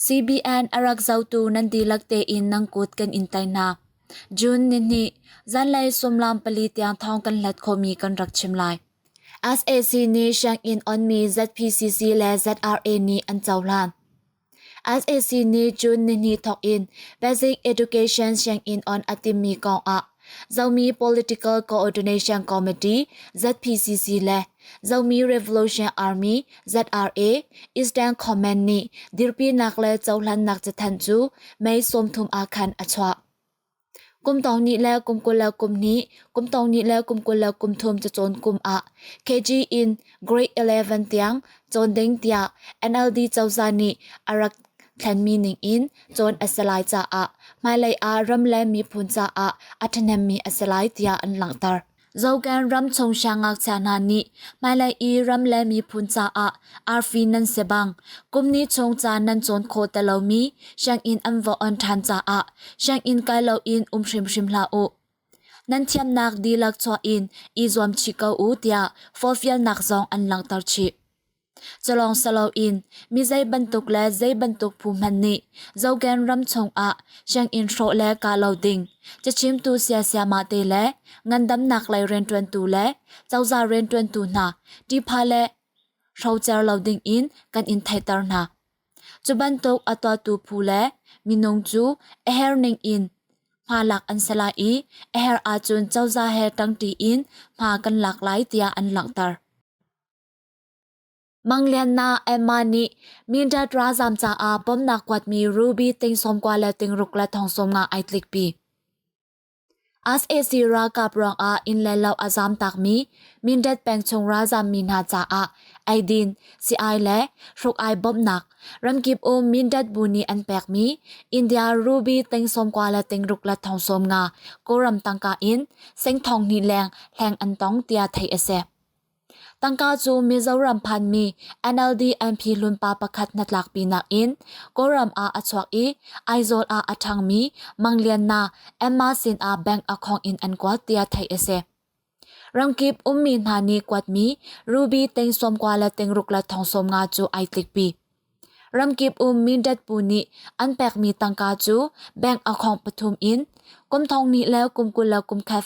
CBN arak zotu nan dihlak tein nang kut kan in tai na. June ni ni zanlei sumlam pali tiang thong kan hlat khomi kan rak chim lai. SAC nih Sianginn onmi ZPCC le ZRA nih an cohlan. SAC nih June nihnih thawk in Basic Education Sianginn on a timmi kong ah Zomi Political Coordination Committee ZPCC le Zomi Revolution Army ZRA Eastern Comment nih dirpinak le cohlannak cathanh cu May sawmthum ah khan a chuah. Kum tawng ni le kum kul le kum hnih, kum tawng ni le kum kul le kum thum cacawn kum ah KG in Grade 11 tiang cawn ding tiah NLD cozah nih a rak thlenmi ning in cawn a si lai caah hmailei ah ram le miphun caah a ṭhahnemmi a si lai tiah an langhter. Zokan ramchung siangngakchia hna nih hmailei i ram le miphun caah arfi nan si bang kumni chung caan nan cawn kho ti lomi sianginn an va on ṭhan caah sianginn kai loin um hrimhrim hlah u. Nan thiamnak dihlak chuah in i zuam chih ko u tiah forfialnak zong an langhter chih. Calawng salo in mi zei bantuk le zei bantuk phu hmanh nih Zogen ram chungah sianginn hrawh le ka lo ding cachimtu siasiama te le ngandamnak lei rianṭuantu le cozah rianṭuantu hna ṭihpha le hrocer lo ding in kan in theihter hna. Cu bantuk a tuatu phu le minung cu a herning in hma lak an si lai i a her ahcun cozah he ṭangṭi in hma kan lak lai tiah an langhter. Manglianna Emma nih Mindat ralzam caah bawmhnak kuatmi ruby ting sawmkua le ting ruk le thongsawm nga ai tlikpi. SAC ralkap ruangah inn le lo a zam takmi Mindat pengchung ralzam mi hna caah aidin, si-ai le hruk-ai bawmhnak ramkip um Mindat bu nih an pekmi India ruby ting sawmkua le ting ruk le thongsawm nga Kawlram tangka in sengthong hnih leng hleng an tong tiah theih a si. Tangka cu Mizoram phanmi NLD-MP hlunpa pakhat hnatlakpinak in Kawlram ah a chuak i Aizawl ah a ṭhangmi Mang Lian Na Emma sin ah bank account in an kuat tiah theih a si. Ramkip ummi hna nih kuatmi ruby teng sawmkua le tengruk le thongsawm nga cu ai tlikpi. Ramkip um Mindat puu nih an pekmi tangka cu bank account pathum in kum thong nih le kum kul le kum khat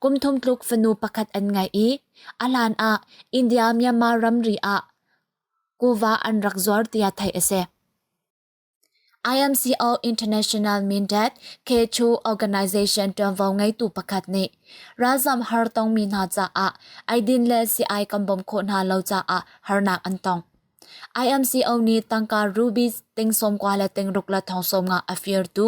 Kum thum tluk fanu pakhat an ngeih i a hlan ah India-Myanmar ramri ah kuva an rak zuar tiah theih a si. IMCO International Mindat Kechu Organization ṭuanvo ngeitu pakhat nih ralzam har tongmi hna caah eidin le si-ai kan bawmh khawh hna lo caah harnak an tong. IMCO nih tangka rubi ting sawmkua le ting ruk le thong sawm nga a firtu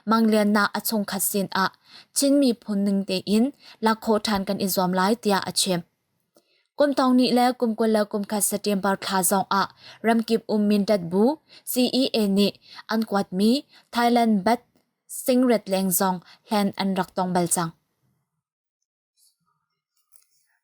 mangliannak a chungkhat sin ah Chin miphun ning tein lakkhawh ṭhan kan i zuam lai tiah a chim. Kumtong ni le kumkul le kumkhat September thla zong ah ramkip um Mindat bu CEA nih an kuatmi Thailand bat singret leng zong hlen an rak tong bal cang.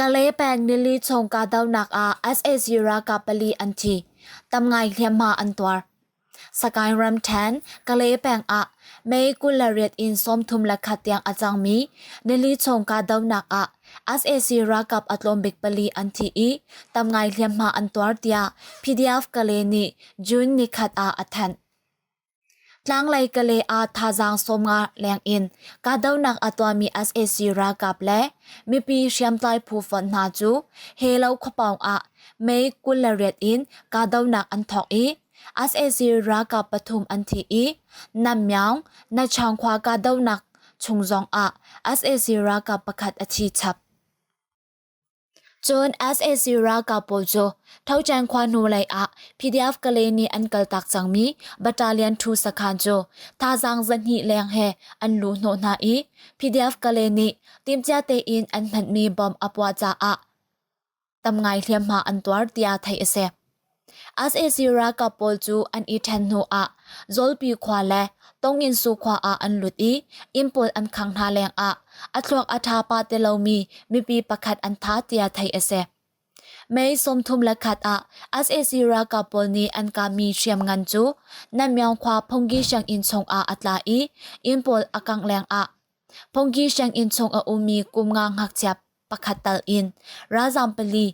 Kale peng nili chung kahdohnak ah sac ralkap pali an thi. Tam ngai hliamhma an tuar. Sagaing ramṭhen Kale peng ah May kul le riat in sawmthum le khat tiang a cangmi nili chung kahdohnak ah sac ralkap a tlawm bik pali an thi i tam ngai hliamhma an tuar tiah PDF Kale nih June ni khat ah a thanh. Tlanglei Kale ah thazaang sawm nga lengin kahdohnak a tuahmi sac ralkap le mipi hriamtlai phu fon hna cu he lo khuapawng ah May kul le riat in kahdohnak an thawk i sac ralkap pathum an thi i Namyang Nachangkhwa kahdohnak chung zong ah sac ralkap pakhat a thi chap. Cun sac ralkap pawl cu Thocan khua hnulei ah PDF-Kale nih an kaltak cangmi battalion thu sakhan cu thazaang zahnih leng he an luh hnawh hna i PDF-Kale nih timhcia tein an hmanmi bomb a puah caah tam ngai hliamhma an tuar tiah theih a si. sac ralkap pawl cu an i ṭhen hnuah Zawlpi khua le Tonginsu khua ah an lut i inn pawl an khang hna lengah a thluak a ṭha pa ti lomi mipi pakhat an tha tiah theih a si. May sawmthum le khat ah sac ralkap pawl nih an kahmi hriamngan cu Nanmyawng khua Phungki sianginn chungah a tla i inn pawl a kangh lengah Phungki sianginn chung a ummi kum nga ngakchia pakhat tal in ralzaam pali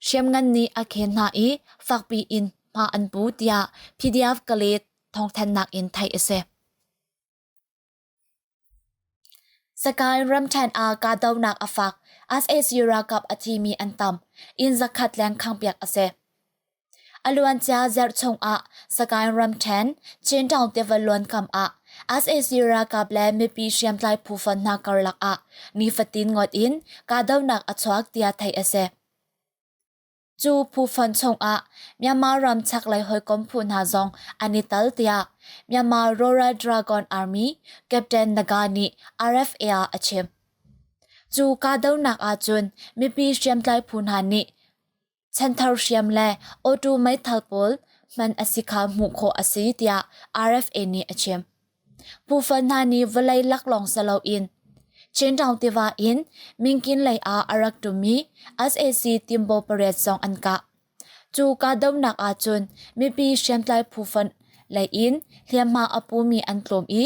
Hriamngan nih a khen hna i fakpi in hma an pu tiah PDF Kalae thawngthanhnak in theih a si. Sakae ramthen ah kahdohnak a fak. SAC ralkap a thi mi an tam. Inn zakhat leng khangpiak a si. a luancia zarh chungah Sagaing ramṭhen Chintown tiva luankam ah SAC ralkap le mipi hriamtlai phufan hna karlak ah nifatin ngawt in kahdohnak a chuak tiah theih a si. Cu phufan chungah Myanmar ram chaklei hawikom phu hna zong an i tal tiah Myanmar Royal Dragon Army Captain Naga nih RFA ah a chim. Cu kahdohnak ahcun mipi hriamtlai phu hna nih chanthar hriam le auto meithal pawl man a si kha hmuh khawh a si tiah RFA nih a chim. Phufa hna nih vawlei laklawng sa loin Chintown tiva in Mingkin lei ah a rak ṭumi SAC timbo pariat zong an kah. Cu kahdohnak ahcun mipi hriamtlai phufan lei in hliamhma a pumi an tlawm i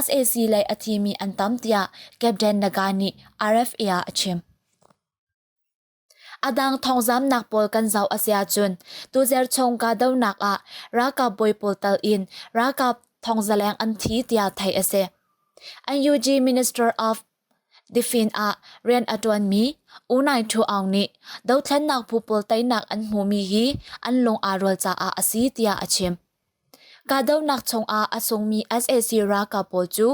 SAC lei a thimi an tam tiah Captain Naga nih RFA ah a chim. Adang thawngzamnak pawl kan zoh a si ahcun, tuzerh chung kahdohnak ah ralkap bawi pawl tal in ralkap thawngzaleng an thi tiah theih a si. NUG Minister of Defense ah rian a ṭuanmi U Nai Ṭhu Aung nih dothlennak phu pawl teinak an hmuhmi hi an lung aa rual caah a si tiah a chim. Kahdohnak chungah a sungmi sac ralkap pawl cu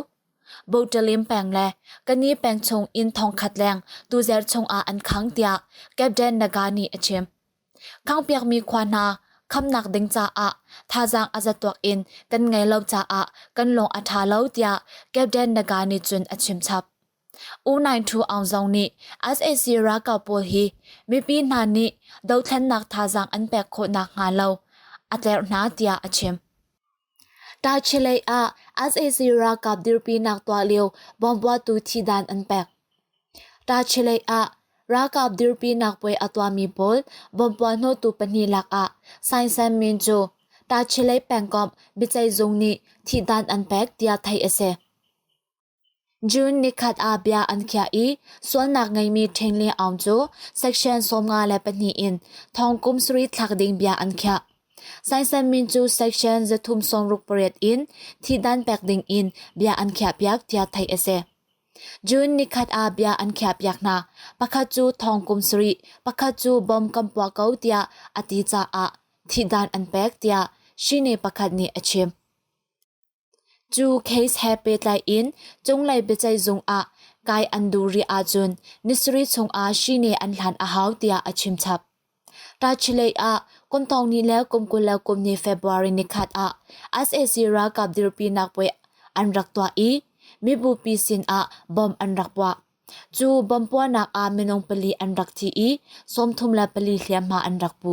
Botalim peng le Kani peng chung inn thongkhat leng tuzer chungah an khang tiah Captain Naga nih a chim. Khangpiakmi khua hna khamnak ding caah thazaang a za tuak in kan ngei lo caah kan lung a ṭha lo tiah Captain Naga nih cun a chimchap. U92 Aung Zong nih sac ralkap pawl hi mipi hna nih dothlennak thazaang an pek khawhnak hnga lo a tlerh hna tiah a chim. Tachi lei ah sac ralkap dirpinak tuah lio bawmbuatu thidan an pek. Tachi lei ah ralkap dirpinak puai a tuahmi pawl bawmbuat hnotu pahnih lakah Sein San Min cu Tachi lei pengkomh biaceihzung nih thidan an pek tiah theih a si. June nikhat ah bia an khiah i sualnak ngeimi ṭhengle aung cu section sawmnga le pahnih in thongkum sarih thlak ding bia an khiah. Sainsan min cu section zathum sawmruk pariat in thihdan pek ding in bia an khiahpiak tiah theih a si. June nikhat ah bia an khiahpiak hna. Pakhat cu thongkum sarih, pakhat cu bom kan puah ko tiah a ti caah thihdan an pek tiah shine pakhat nih a chim. Cu case he pehtlai in cunglei biaceihzung ah kai an duh rih ahcun nisarih chungah shine an hlan a hau tiah a chimchap. Tachileih ah kum thong ni le kum kul le kum hnih February nikhat ah sac ralkap dirpinak puai an rak tuah i mibupi sinah bom an rak puah. Cu bom puahnak ah minung pali an rak thi i sawmthum le pali hliamhma an rak pu.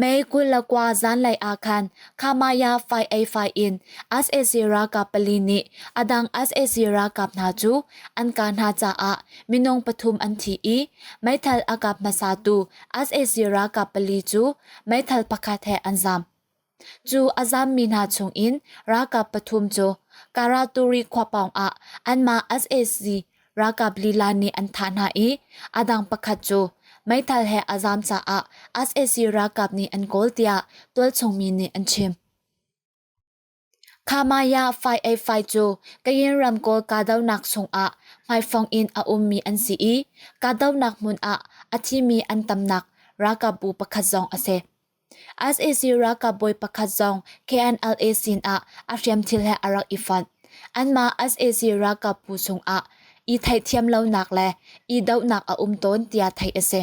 May kul le kua zanlei ah khan Khamaya fai ei fai in SAC ralkap pali nih a dang SAC ralkap hna cu an kaa hna caah minung pathum an thi i meithal a kap hmasatu SAC ralkap pali cu meithal pakhat he an zaam. Cu a zaammi hna chungin ralkap pathum cu Karaturi khua pawng ah anmah SAC Ralkap lila nih an thah hna i a dang pakhat cu meithal he a zaam caah SAC ralkap nih an kawl tiah tualchungmi nih an chim. Khamaya 585 cu Kayin ramkawl kahdohnak chungah hmaifong in a ummi an si i kahdohnak hmun ah a thimi an tamnak ralkapbu pakhat zong a si. sac ralkap bawi pakhat zong KNLA sinah a hriamthil he a rak i fonh. Anmah sac ralkap phu chungah i theihthiam lonak le i dohnak a um tawn tiah theih a si.